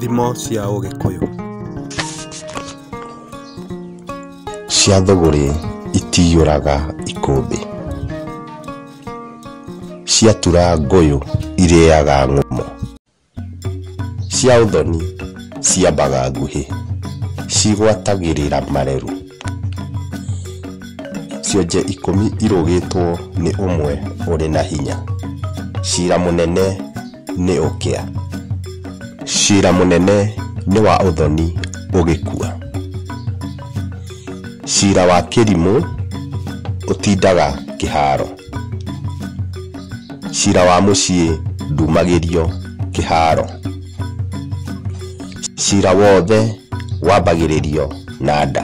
Thimo cia Ũgĩkũyũ. Cia thũgũrĩ itiyũraga ikũmbĩ. Ciatura ngũyũ irĩaga ng'ũmũ. Cia ũthoni ciambaga nguhĩ. Cigwatagĩrĩra mareru. Cionje ikũmi irũgĩtwo nĩ ũmwe ũrĩ na hinya. Cira mũnene. nĩ ũkĩa. Cira mũnene nĩ wa ũthoni ũgĩkua. Cira wa kĩrimũ ũtindaga kĩharo. Cira wa mũciĩ ndumagĩrio kĩharo. Cira wothe wambagĩrĩrio na nda.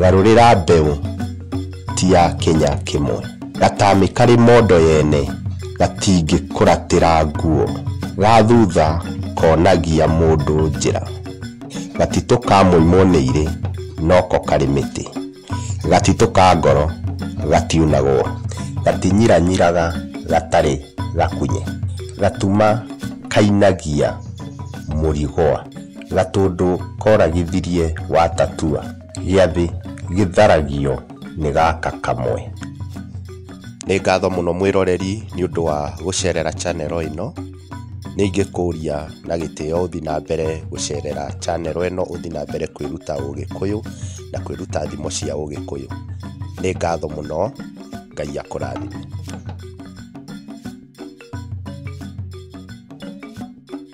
Garũrĩra mbeũ ti ya kĩnya kĩmwe. Gatamĩ karĩ mondo yene gatingĩkũratĩra nguo. Ga thutha konagia mũndũ njĩra. Gatitũ ka mũimwo nĩ irĩ noko karĩ mĩtĩ. Gatitũ ka ngoro gatiunagwo. Gatinyiranyiraga gatarĩ gakunye. Gatuma kainagia mũrigwa. Gatũndũ koragithirie wa Tatua. Gĩathĩ gĩtharagio nĩ gaka kamwe. Nĩ ngatho mũno mwĩroreri nĩ ũndũ wa gũcerera channel ĩno. Nĩ ingĩkũria na gĩtĩo ũthiĩ na mbere gũcerera channel ĩno ũthiĩ na mbere kwĩruta Ũgĩkũyũ na kwĩruta thimo cia Ũgĩkũyũ. Nĩ ngatho mũno, Ngai akũrathime.